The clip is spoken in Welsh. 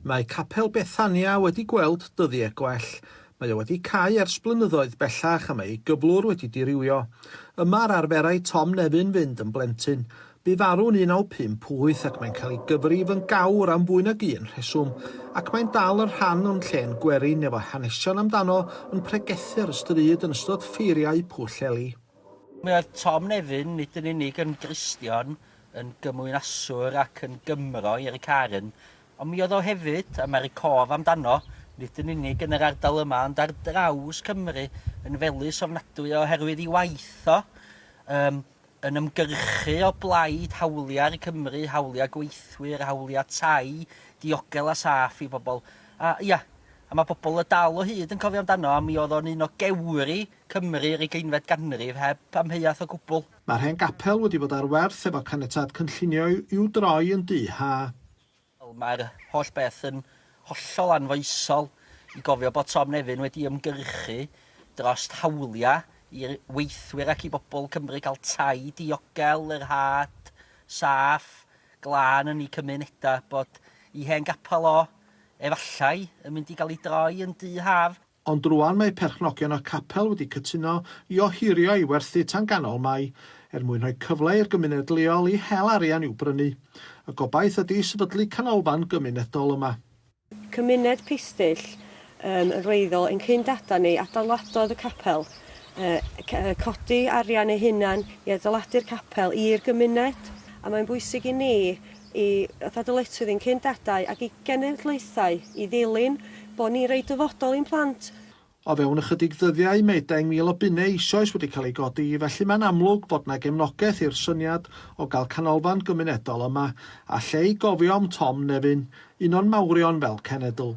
Mae Capel Bethania wedi gweld dyddie gwell. Mae o wedi cau ers blynyddoedd bellach a mae ei gyflwr wedi dirywio. Yma yr arferai Tom Nefyn fynd yn blentyn. Bu farw'n 1958 ac mae'n cael ei gyfrif yn gawr am fwy nag un rheswm, ac mae'n dal yn rhan o'n llên gwerin efo hanesion amdano yn pregethu'r stryd yn ystod ffeiriau Pwll Eli. Mi oedd Tom Nefyn nid yn unig yn Gristion yn gymwynaswr ac yn Gymro i Eric Aaron, ond mi oedd o hefyd, a mae'r cof amdano, nid yn unig yn yr ardal yma ond ar draws Cymru, yn felys ofnadwy oherwydd ei waith o, yym, yn ymgyrchu o blaid hawliau'r Cymry, hawliau gweithwyr, hawliau tai diogel a saff i bobl. A, ia, a mae pobl y Dal o hyd yn cofio amdano, a mi oedd o'n un o gewri Cymru yr ugeinfed ganrif, heb amheuaeth o gwbl. Mae'r hen gapel wedi bod ar werth efo caniatâd cynllunio i'w droi yn dŷ ha. Wel, mae'r holl beth yn hollol anfoesol i gofio bod Tom Nefyn wedi ymgyrchu dros hawliau i weithwyr ac i bobl Cymru cael tai diogel, yr had, saff, glân yn eu cymunedau, bod eu hen gapel o, efallai, yn mynd i gael ei droi yn dŷ haf. Ond rŵan mae perchnogion y capel wedi cytuno i ohirio i werthu tan ganol Mai, er mwyn rhoi cyfle i'r gymuned leol i hel arian i'w brynu. Y gobaith ydi sefydlu canolfan gymunedol yma. Cymuned Pistyll yn wreiddiol ein cyn-dada'n ni adeiladodd y capel, yn codi arian eu hunain i adeiladu'r capel i'r gymuned, a mae'n bwysig i ni i fatha dyletswydd i'n cyn dadau ac i genedlaethau i ddilyn, bod ni'n rhoi dyfodol i'n plant. O fewn ychydig ddyddiau mae deng mil o bunnau eisoes wedi cael eu godi, felly mae'n amlwg bod 'na gefnogaeth i'r syniad o gael canolfan gymunedol yma, a lle i gofio am Tom Nevin, un o'n mawrion fel cenedl.